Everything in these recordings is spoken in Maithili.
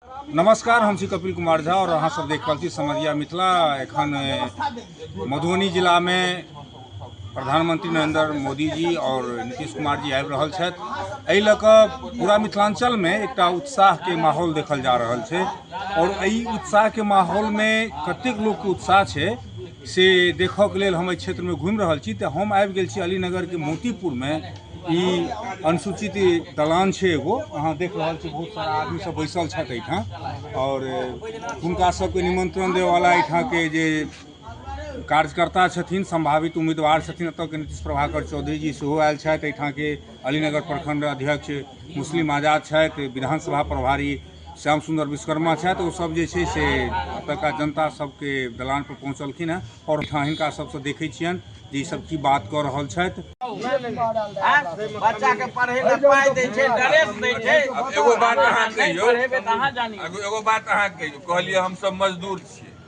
नमस्कार हम छी कपिल कुमार झा और अहाँ सब देख रहल छी समझिया मिथिला एखन मधुबनी जिला में प्रधानमंत्री नरेंद्र मोदी जी और नीतीश कुमार जी आबि रहल छथि एहि लऽ कऽ पूरा मिथिलांचल में एकटा उत्साह के माहौल देखल जा रहल छै और एहि उत्साह के माहौल में कतेक लोग के उत्साह छै से देखक लेल हम एहि क्षेत्रमे घुमि रहल छी तऽ हम आबि गेल छी अलीनगरके मोतीपुरमे ई अनुसूचित दलान छै एगो अहाँ देख रहल छी बहुत सारा आदमी सब बैसल छथि एहिठाम आओर हुनका सबके निमंत्रण देवाला एहिठामके जे कार्यकर्ता छथिन सम्भावित उम्मीदवार छथिन एतऽके नीतीश प्रभाकर चौधरी जी सेहो आयल छथि एहिठामके अलीनगर प्रखंड अध्यक्ष मुस्लिम आजाद छथि विधानसभा प्रभारी श्याम सुन्दर विश्वकर्मा छथि ओ सब जे छै से एतुका जनता सबके दलान पर पहुँचलखिन हँ आओर ठाम हिनका सबसँ देखै छियनि जे ई सब की बात कऽ रहल छथि बच्चा के पढ़े ला पाई दे छै ड्रेस दे छै एगो बात अहाँ कहियो एगो बात अहाँ कहियो कहलियै हम सब मजदूर छियै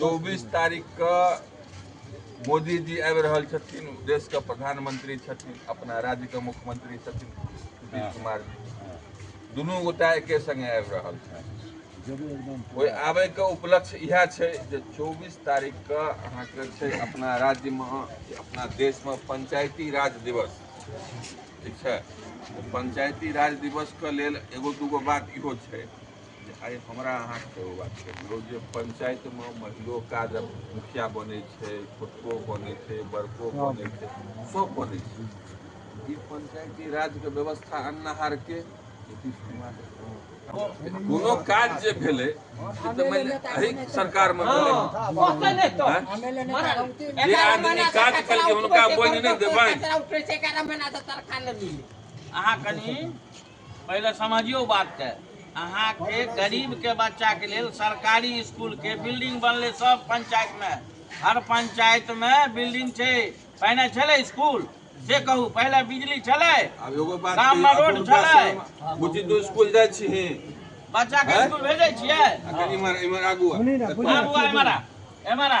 चौबीस तारीख के मोदी जी आबि रहल छथिन देश के प्रधानमंत्री छथिन अपना राज्य के मुख्यमंत्री छथिन नीतीश कुमार जी दुनू गोटा एके संगे आबि रहल छथिन ओहि आबे के उपलक्ष्य इएह छै जे चौबीस तारीख के अहाँके छै अपना राज्य मे अपना देश मे पंचायती राज दिवस ठीक छै पंचायती राज दिवस के लेल एगो दूगो बात इहो छै जे आइ हमरा अहाँके सेहो बात छै लोक जे पञ्चायतमे महिलो काज मुखिया बनै छै छोटको बनै छै बड़को बनै छै सभ बनै छै ई पञ्चायती राजके व्यवस्था अन्नहारके कोनो काज जे भेलै से तऽ मानि एहि सरकारमे भेलै जे आदमी काज केलकै हुनका बोनि नहि देबनि अहाँ कनि पहिले समझियौ बातके अहाँके गरीबके बच्चाके लेल सरकारी इसकुलके बिल्डिंग बनलै सब पंचायतमे हर पंचायतमे बिल्डिंग छै पहिने छलै इसकुल से कहू पहिले बिजली छलै अब एगो बात गाममे कहियौ, रोड अपन छलै भाषामे। बुच्ची तू स्कूल जाइ छिही बच्चाके हैं? इसकुल भेजै छियै आ कनी इम्हर इम्हर आगू आ। आबू आ एमहरा एमहरा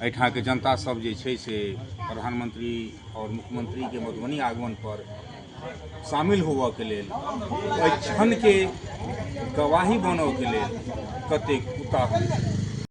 एहिठामके जनता सब जे छै से प्रधानमंत्री आओर मुख्यमंत्रीके मधुबनी आगमन पर शामिल होबऽ के लेल एहि क्षणके गवाही बनऽ के लेल कतेक उताहुल छै